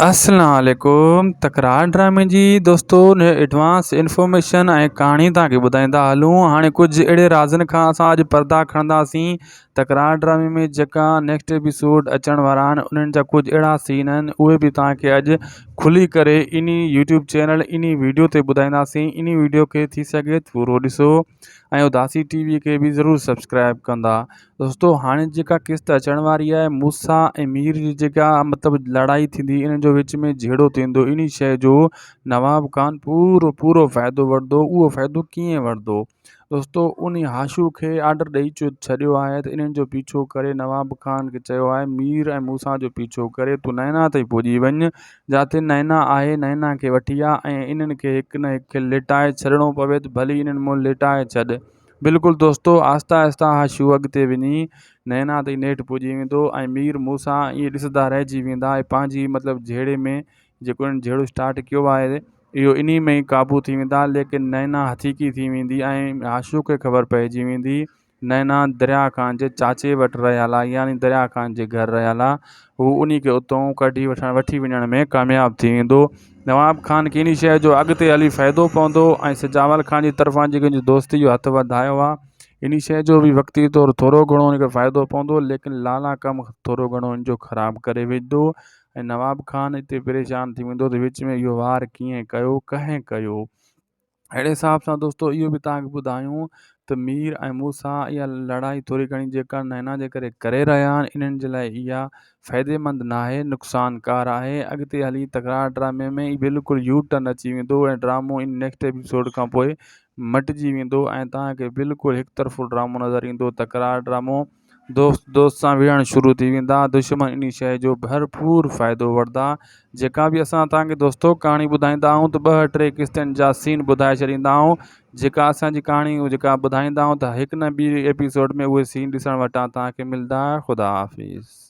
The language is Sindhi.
اسلام عليڪم تڪرار ڊرامي جي دوستون هي ايڊوانس انفارميشن ۽ ڪهاڻي توهان کي ٻڌائيندا هلون هاڻي ڪجهه اهڙي رازن کان اسان اڄ پردا کڻنداسين تڪرار ڊرامي ۾ جيڪا نيڪسٽ ايپيسوڊ اچڻ وارا آهن انهن جا ڪجهه اهڙا سين آهن اهي به توهان کي اڄ کلي ڪري انهي يوٽيوب چينل انهي ويڊيو تي ٻڌائينداسين انهي ويڊيو کي ٿي سگهي ٿورو ڏسو ۽ اداسي ٽي وي کي به ضرور سبسڪرائب ڪندا دوستو هاڻي جيڪا قسط اچڻ واري آهي موسا ۽ مير جي جيڪا مطلب لڙائي ٿيندي انهن جو وچ ۾ جهيڙو ٿيندو انهي شيء جو نواب خان پورو پورو فائدو وٺندو اهو فائدو ڪيئن وٺندو دوستو انهي هاشو کي آرڊر ڏئي ڇڏيو آهي ته انهن جو پيڇو ڪري نواب خان کي چيو آهي مير ۽ موسا جو پيڇو ڪري تون نينا تائين پڄي وڃ جاتي نينا آهي نينا کي وٺي آ ۽ انهن کي هڪ نه هڪ کي لٽائي ڇڏڻو پوي ته ڀلي انهن مون لٽائي ڇڏ بلڪل دوستو آهستي آهستي اها شو اڳتي وڃي نئنا تائين نيٺ پڄي ويندو ۽ مير موسيٰ ائين ڏسندا رهجي ويندا ۽ پنهنجي مطلب جهيڙي ۾ جيڪو انهن جهيڙو اسٽارٽ ڪيو آهي اهو انهي ۾ ئي قابو ٿي ويندا ليڪن نئنا هٿيڪي ٿي ويندي ۽ عاشوء کي خبر پئجي ويندي نئنا دريا خان جي چاچي وٽ رهيل آهي يعني دريا خان جي گهر رهيل آهي هو انهي کي اتئون ڪڍي وٺڻ وٺي وڃڻ ۾ ڪامياب ٿي ويندو نواب خان ڪنهن شيء جو اڳتي هلي فائدو پوندو ۽ سجاول خان جي طرفان جيڪي هن دوستي جو هٿ وڌايو ها، انهي شيء جو به وقتي طور ٿورو گهڻو هن کي فائدو پوندو، ليڪن لالا ڪم ٿورو گهڻو هن جو خراب ڪري وجهندو ۽ نواب خان اتي پريشان ٿي ويندو ته وچ ۾ اهو وار ڪيئن ڪيو، ڪنهن ڪيو؟ اهڙي حساب سان دوستو اهو به توهان کي ٻڌايون ته مير ۽ مون سان اها لڙائي ٿوري گهڻي جيڪا نينا جي ڪري ڪري رهيا آهن انهن جي لاء اها فائديمند ناهي نقصانڪار آهي اڳتي هلي تڪرار ڊرامي ۾ ئي بلڪل يو ٽرن اچي ويندو ۽ ڊرامو ان نيڪسٽ ايپيسوڊ کان پوء مٽجي ويندو ۽ توهان کي بلڪل هڪ طرفو ڊرامو نظر ايندو تڪرار ڊرامو دوست دوست سان وڙهڻ شروع ٿي ويندا دشمن انهي شيء جو ڀرپور فائدو وٺدا جيڪا به اسان توهان کي دوستو ڪهاڻي ٻڌائيندا آهيون ته ٻه ٽي قسطن جا سين ٻڌائي ڇڏيندا آهيون جيڪا اسان جي ڪهاڻي جيڪا ٻڌائيندا آهيون ته هڪ نه ٻي ايپيسوڊ ۾ اهي سين ڏسڻ وٽان توهان کي ملدا خدا حافظ